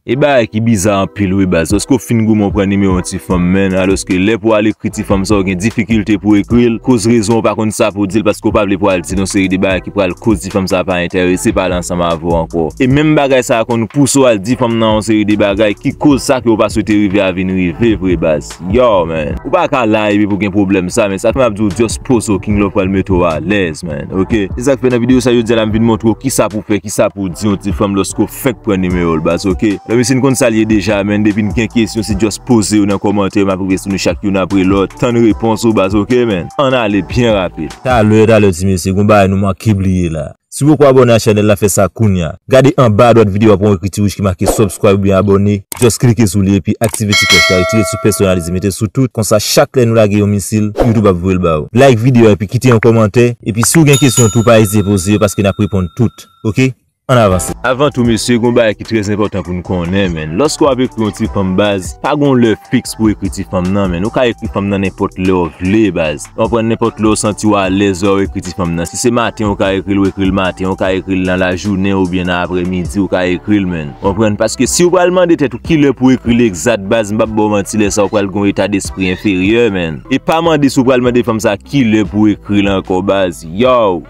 E bagay ki biza anpil wi baz, paske w fin goumen w pran nimewo yon ti fanm menn, alòske lè pou w al ekri ti fanm sa w gen difikilte pou w ekri l, koz rezon w pa konn sa pou w di l paske w pa vle pou w al di l yon seri de bagay ki pral koz ti fanm sa pa entèrese pale ansanm avè w ankò. E menm bagay sa konn pouse w al di fanm nan yon seri de bagay ki koz sa ke w pa swete rive a vin rive vre baz. Yow man, ou pa ka la epi pou gen pwoblèm sa man, sak fè map diw just pozo king love pral mete w alèz man ok. Se sak fè nan video sa jodi a la m vin montre w kisa pou fè kisa pou di yon ti fanm lòske w fenk pran nimewo l baz ok. Nan mesye n konn sa l ye deja man depi n gen kesyon se just poze yo nan kòmantè map rive sou nou chak youn apre lòt tann repons ou baz ok man. Ann ale byen rapid. Talè talè ti mesye gon bagay nou manke bliye la. Si w poko abòne a chanèl la fè sa kounya. Gade anba adwat videyo a pou yon ekriti wouj ki make subscribe oubyen abòne, just klike sou li epi aktive ti klòch la, retire sou personalize mete sou tout, konsa chak lè nou lage yon misil, YouTube ap voye l ba ou. Like videyo a epi kite yon kòmantè, epi si w gen kesyon tou pa ezite poze yo paske nap reponn tout ok Ann avanse. Avan tou mesye gon bagay ki trè enpòtan pou n konnen menn, lòske wap ekri yon ti fanm baz, pa gon lè fiks pou ekri ti fanm nan menn, ou ka ekri fanm nan nenpòt lè w vle baz. Ou ka pran nenpòt lè ou santi ou alèz lè ou ekri ti fanm nan. Si se maten ou ka ekri l, ou ekri l maten, ou ka ekri l nan lajounen oubyen nan aprèmidi ou ka ekri l menn. Ou konprann? Paske si ou pral mande tèt ou ki lè pou ekri l egzat baz m pap ba w manti lè sa ou pral gen yon eta despri enferyè menn. E pa mande si ou pral mande fanm sa ki lè pou ekri l ankò baz. Yow!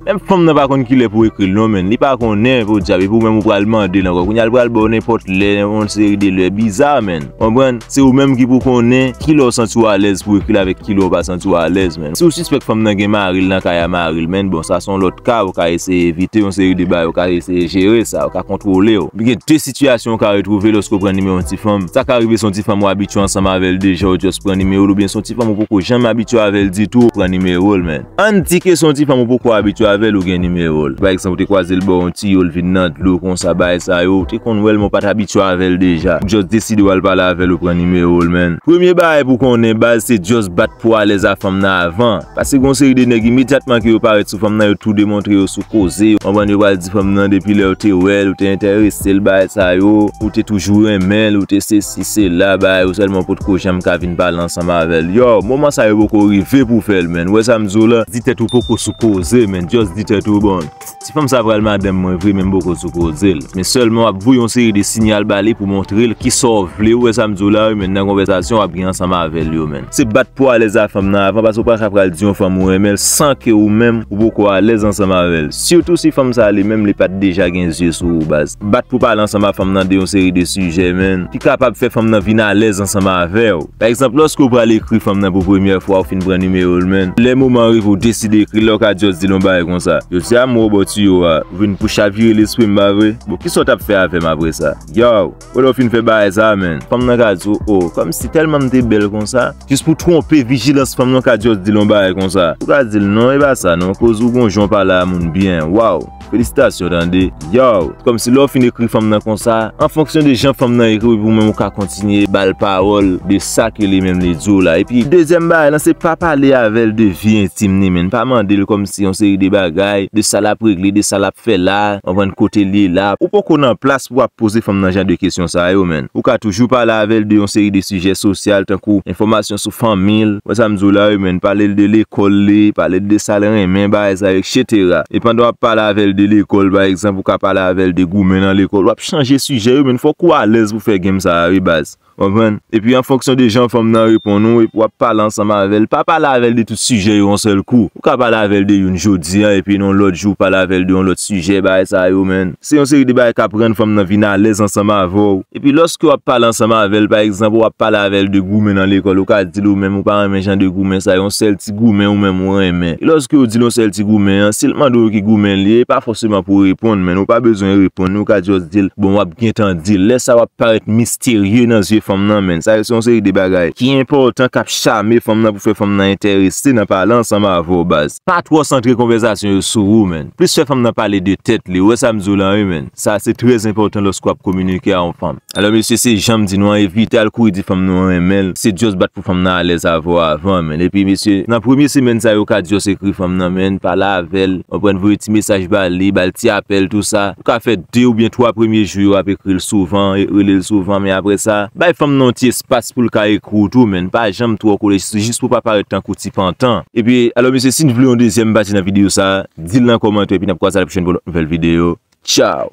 Menm fanm nan pa konn kilè pou ekril non menn li pa konnen podyab epi ou menm ou pral mandel ankò kounya li pral baw nenpòt lè yon seri de lè biza menn konprann se ou menm ki pou konnen kilè ou santiw alèz pou ekril avèk kilè ou pa santiw alèz menn si ou sispèk fanm nan gen maril nan kay a maril menn bon sa son lòt ka ou ka eseye evite yon seri de bagay ou ka eseye jere sa ou ka kontwolew men gen de sitiyasyon ou ka retwouve lèske ou pran nimewo yon ti fanm sa ka rive son ti fanm ou abitye ansanm avèl deja ou just pran nimewol oubyen son ti fanm ou poko janm abitye avèl ditou ou pran nimewol menn. Ann di ke se yon ti fanm ou poko abitye avè l ou gen nimewo l. Pa egzanp ou te kwaze l bò yon tiyo l vin nan dlo konsa bagay sa yo. Ou te konn wè l men w pa t abitye avè l deja. Ou just deside w al pale avè l ou pran nimewo l menn. Premye bagay pou w konnen baz se just bat pou w alèz a fanm nan avan. Pase gen yon seri de nèg imedyatman ke yo parèt sou fanm nan yo tou demontre yo sou koze. Ou konprann yo pral di fanm nan depi lè ou te wè l ou te entèrese l bagay sa yo. Ou te toujou renmen l ou te sesi. Se la bagay yo sèlman potko janm ka vin pale ansanm avèl yow moman sa yo poko rive pou fèl menn wè sam diw la. Di tèt ou poko sou koze menn just di tèt ou bon ti fanm sa pral madanm mwen vre menm poko sou kozel men sèlman wap voye yon seri de sinyal bali pou montrel kisaw vle ou wè sam diw la wi menn nan konvèsasyon wap gen ansanm avèl yo menn se bat pou alèz a fanm nan avan paske ou paka pral di yon fanm ou renmenl san ke ou menm ou poko alèz ansanm avèl sitou si fanm sa li menm li pat deja gen zye sou ou baz. Bat pou pale ansanm ak fanm nan de yon seri de sijè menn ki kapab fè fanm nan vin alèz ansanm avè w. Pa egzanp, lòske ou pral ekri fanm nan pou premyè fwa ou fin pran nimewo l menn, lè moman an rive ou deside ekri l la ou ka just di l yon bagay konsa, Jodi a m wè w bò tiyo a, ou vin pou chavire lespri m pa vre? Bon, kisa w t ap fè avè m apre sa? Yow! Bon lè w fin fè bagay sa a menn, fanm nan ka di w, O, kòmsi tèlman m te bèl konsa? Jis pou twonpe vijilans fanm nan ou ka just di l yon bagay konsa, ou ka di l, Non, e pa sa non, koz ou gon jan w pale a moun byen, waw! Felisitasyon tande. Yow, kòmsi lè w fin ekri fanm nan konsa, an fonksyon de jan fanm nan ekri w epi ou menm ou ka kontinye ba l pawòl de sa ke li menm li di w la. Epi, dezyèm bagay lan se pa pale avè l de vi entim li menn. Pa mande l kòmsi yon seri de bagay, de sa l ap regle, de sa l ap fè la, konprann, kote l ye la. Ou poko nan plas pou w ap poze fanm nan jan de kesyon sa yo menn. Ou ka toujou pale avè l de yon seri de sijè sosyal tankou enfòmasyon. sou fanmi l, wè sa m di w la wi menn, pale l de lekòl li, pale l de sa l renmen, bagay sa yo, eksetera. E pandan w ap pale avè l de lekòl pa egzanp, ou ka pale avè l de goumen nan lekòl, w ap chanje sijè wi menn, fòk ou alèz pou fè game sa a wi baz. Ou konprann? Epi an fonksyon de jan fanm nan reponn ou, epi w ap pale ansanm avè l, pa pale avè l de tout sijè yo yon sèl kou. Ou ka pale avè l de youn jodi an, epi yon lòt jou ou pale avè l de yon lòt sijè, bagay sa yo menn. Se yon seri de bagay k ap rann fanm nan vin alèz ansanm avè w. Epi lòske w ap pale ansanm avè l, pa egzanp, ou ap pale avè l de goumen nan lekòl, ou ka di l ou menm ou pa renmen jan de goumen sa yo, yon sèl ti goumen ou menm ou renmen. E lòske yo di l yon sèl ti goumen an, si l mande w ki goumen li ye, e pa fòseman pou w reponn menn, ou pa bezwen reponn li, ou ka jòs di l, bon, w ap gen tan di l. Lè sa a w ap parèt misterye nan zye fanm nan menn. Sa yo se yon seri de bagay ki enpòtan k ap chame fanm nan pou fè fanm nan enterese nan pale ansanm avè w baz. Pa twò santre konvèzasyon yo sou ou man. Plis fè fanm nan pale de tèt li. Ou wè sa m di w lan wi man. Sa se trè enpòtan lòske w ap kominike a yon fanm. Alò mesye se jan m di nou an evite al kouri di fanm nou renmen l. Se just bat pou fanm nan alèz avè w avan man. Epi mesye nan premye semèn sa yo ka just ekri fanm nan man, pale avè l, konprann, voye ti mesaj ba li, ba l ti apèl tou sa. Ou ka fè 2 oubyen 3 premye jou yo ap ekri l souvan, rele l souvan men aprè sa, bay fanm nan yon ti. Pas poul ka ekri w tou menn pa janm twò kole jis pou pa parèt tankou ti pantan. Epi alò mesye si n vle yon dezyèm pati nan videyo sa di l nan kòmantè epi n ap kwaze a la pwochèn pou yon lòt nouvèl videyo tchaw.